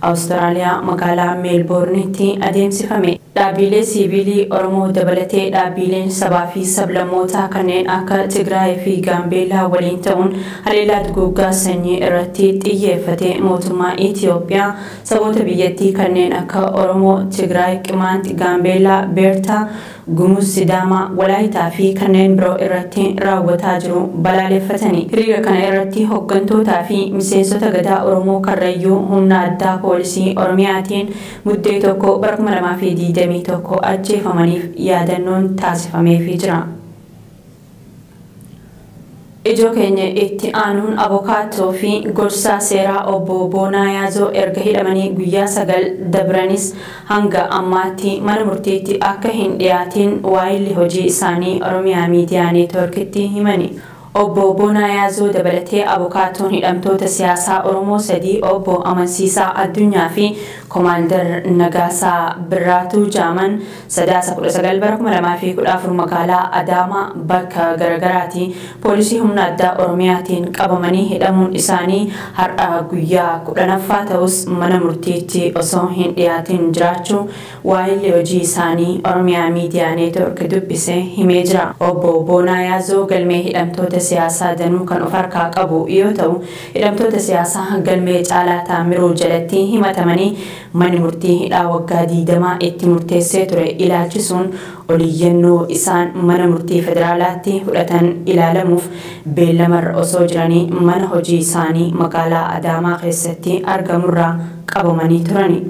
Awustiraaliyaa magaalaa Meelboornitti adeemsifame. Dhaabbiilee siiviilii Oromoo dabalatee dhaabbiileen sabaa fi sablammootaa kanneen akka Tigraayii fi Gaambeellaa waliin ta'uun haleellaa duguuggaa sanyii irratti xiyyeeffate mootummaa Itiyoophiyaa saboota biyyattii kanneen akka Oromoo, Tigraay, Qimaant, Gaambeellaa, Beertaa, Gumuz, Sidaamaa, Walaayitaa fi kanneen biroo irratti raawwataa jiru balaaleffatani. Hiriira kana irratti hoggantootaa fi miseensota Gadaa Oromoo Karrayyuu humna addaa poolisii Oromiyaatiin Muddee 1 bara 2021 ajjeefamaniif yaadannoon taasifameefii jira. Ijoo keenya itti aanuun Abokaattoo fi Gorsaa Seeraa Obbo Boonaa Yaazoo erga hidhamanii guyyaa 9 dabranis hanga ammaatti mana murtiitti akka hin dhiyaatiin waayilli hojii isaanii Oromiyaa Miidiyaa Neetwoorkitti himani. Obbo Boonaa Yaazoo dabalatee Abokaattoon hidhamtoota siyaasaa Oromoo sadii Obbo Amansiisaa Addunyaa fi Komaandar Nagaasaa Birraatuu jaaman Sadaasa 19 bara 2014 magaalaa Adaamaa bakka garagaraatii poolisii humna addaa Oromiyaatiin qabamanii hidhamuun isaanii har'a guyyaa 10ffaa ta'us mana murtiitti osoo hin dhiyaatin jiraachuu waahilli hojii isaanii Oromiyaa Miidiyaa Neetwork dubbise himee jira. Obbo Boonaa Yaazoo galmee hidhamtoota siyaasaa danuu kan of harkaa qabu yoo ta'u, hidhamtoota siyaasaa galmee Caalaa Taammiruu jalatti himatamanii Manni murtii hidhaa waggaa 20 itti murteessee ture ilaalchisuun oliyyannoo isaan mana murtii federaalaatti fudhatan ilaalamuuf beellamarra osoo jiranii mana hojii isaanii magaalaa Adaamaa keessatti argamurraa qabamanii turani.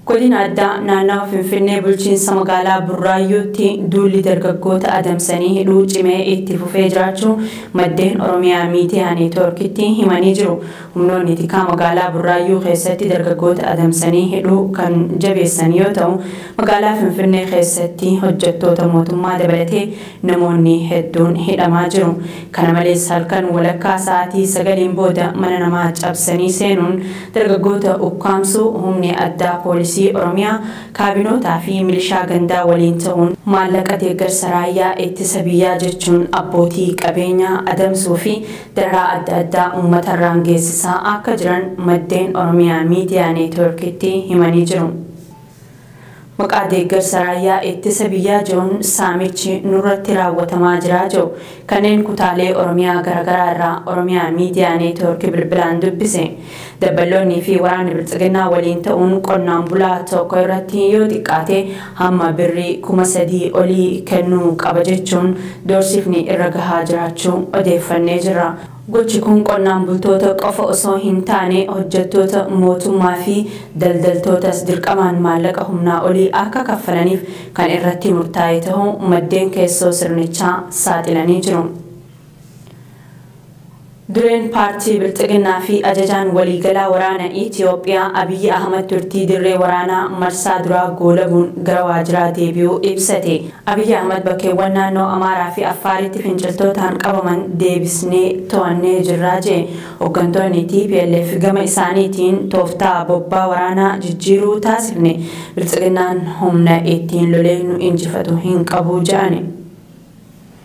Godina Addaa Naannawa Finfinnee Bulchiinsa Magaalaa Burraayyuutti duulli dargaggoota adamsanii hidhuu cimee itti fufee jiraachuu maddeen Oromiyaa Miidiyaa Neetwoorkitti himanii jiru. Humnoonni tikaa magaalaa Burraayyuu keessatti dargaggoota adamsanii hidhuu kan jabeessan yoo ta'u, magaalaa Finfinnee keessatti hojjettoota mootummaa dabalatee Namoonni hedduun hidhamaa jiru. Kana malees halkan walakkaa sa'aatii sagaliin booda mana namaa cabsanii seenuun dargaggoota ukkaamsuu, humni addaa poolisii Oromiyaa kaabinootaa fi milishaa gandaa waliin ta'uun maallaqa deeggarsa raayyaa ittisa biyyaa jechuun abbootii qabeenyaa adamsuu fi dararaa adda addaa uummatarraan geessisaa akka jiran maddeen Oromiyaa Miidiyaa Neetwoorkitti himanii jiru. Maqaa deeggarsa raayyaa ittisa biyyaa jedhuun saamichi nurratti raawwatamaa jira jedhu kanneen kutaalee Oromiyaa garagaraa irraa Oromiyaa Miidiyaa Neetiwoorki bilbilaan dubbise. Dabballoonnii fi waraanni Bilxiginnaa waliin ta'uun qonnaan bulaa tokko irratti yoo xiqqaate hamma birrii kuma sadii olii kennuu qaba jechuun doorsifni irra gahaa jiraachuu odeeffannee jirra. Gochi kun qonnaan bultoota qofa osoo hin taane hojjettoota mootummaa fi daldaltootas dirqamaan maallaqa humnaa olii akka kaffalaniif kan irratti murtaa'e tahuu maddeen keessoo sirnichaa saaxilanii jiru. Dureen paartii Bilxiginnaa fi Ajajaan Waliigalaa Waraana Itiyoophiyaa Abiyyi Ahmad turtii dirree waraanaa marsaa duraa goolabuun gara waajiraa deebi'uu ibsate. Abiy Ahmad bakkeewwan naannoo Amaaraa fi Affaaritti finciltootaan qabaman deebisnee to'annee jirra jedhe. Hoggantoonni tplf gama isaaniitiin tooftaa bobbaa waraanaa jijjiiruu taasifne Biltsiginnaan humna ittiin lolee nu injifatu hin qabu jedhani.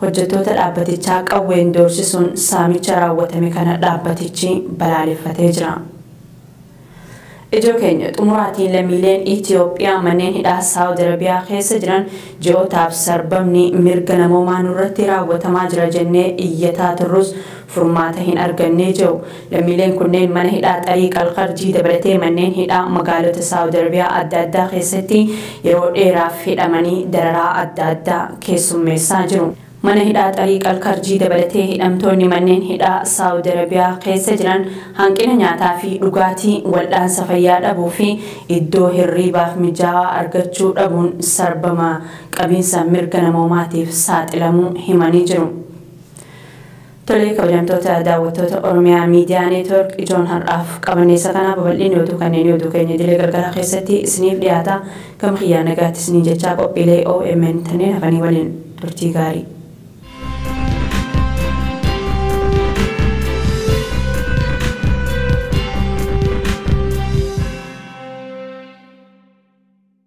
Hojjettoota dhaabbatichaa qawween doorsisuun saamicha raawwatame kana dhaabbatichi balaaleffatee jira. Ijoo keenya xumuraatiin lammiileen Itiyoophiyaa manneen hidhaa Saawud Arabiyaa keessa jiran ji'ootaaf sarbamni mirga namoomaa nurratti raawwatamaa jira jennee iyyataa turrus furmaata hin argannee je'u Lammiileen kunneen mana hidhaa Xariiq al-Kharjii dabalatee manneen hidhaa magaalota Saawud Arabiyaa adda addaa keessatti yeroo dheeraaf hidhamanii dararaa adda addaa keessummeessaa jiru. Mana hidhaa Xariiq al-Kharjii dabalatee hidhamtoonni manneen hidhaa Saawud Arabiyaa keessa jiran hanqina nyaataa fi dhugaatii, wal'aansa fayyaa dhabuu fi iddoo hirriibaaf mijaawaa argachuu dhabuun sarbama qabiinsa mirga namoomaatiif saaxilamuu himanii jiru. Tolee kabajamtoota daawwattoota Oromiyaa Miidiyaa Neetwork ijoon har'aaf qabannee isa kanaa babal'inni oduu kanneenii oduu keenya idilee galgalaa keessatti isiniif dhiyaata gama kiyyaa nagaatti isiniin jechaa qophiilee omn tanneen hafanii waliin turtii gaarii.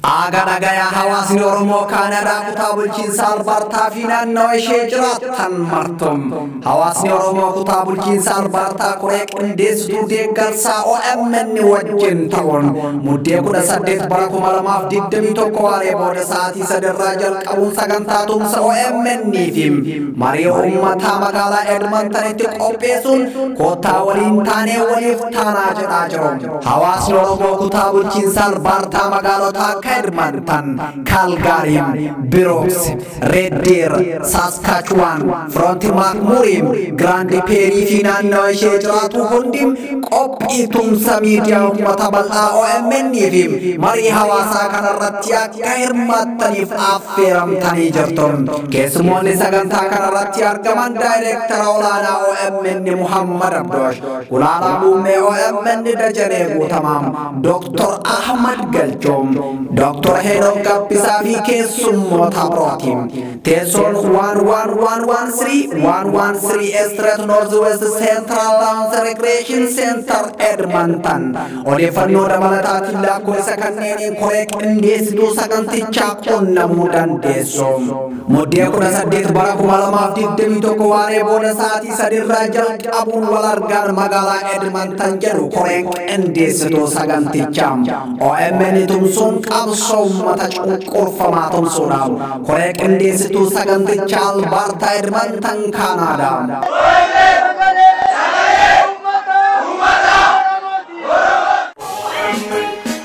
Aaga dhagaya hawaasni Oromoo Kaanadaa kutaa bulchiinsa Albaartaa fi naannawa ishee jiraattan martum. Hawaasni Oromoo kutaa bulchiinsa Albaartaa koree qindeessituu deeggarsaa OMN wajjin ta'uun muddee 18 bara 2021 waaree booda sa'aatii sadarraa jalqabuun sagantaa tumsa OMN fi marii uummataa magaalaa Edmontonitti qopheessuun koottaa waliin taanee waliif taanaa jedhaa jiru. Hawaasni Oromoo kutaa bulchiinsa Albaartaa magaalotaa akka Edmonton, Calgary, Brooks, Red Deer, Saskatchewan, Front McMurray, Grand Prairie fi naannawa ishee jiraatu hundi qophii tumsa miidiyaa uummata bal'aa OMN fi marii hawaasaa kanarratti akka hirmaattaniif affeeramtanii jirtu. Keessumoonni sagantaa kanarratti argaman daayireektara olaanaa OMN Muhammad Abdoosh Gulaalaa Muummee OMN Dajanee Guutamaa, Dooktor Ahmad Galchoom, Dooktor Heenok Gabbisaa fi keessummoota birooti. Teessoon 11113 Estret North West Central Lounge Recreation Center Edmonton odeeffannoo dabalataatiin lakkoofsa kanneeniin koree qindeessituu sagantichaa qunnamuu dandeessu. Muddee 18 bara 2021 waaree booda sa'aatii sadiirraa jalqabuun wal argaan magaalaa Edmonton jedhu koreen qindeessituu sagantichaa OMN tumsuun qabsoo uummata cunqurfamaa tumsuudhaaf koree qindeessituu sagantichaa Albaartaa Edmonton Kaanaadaa.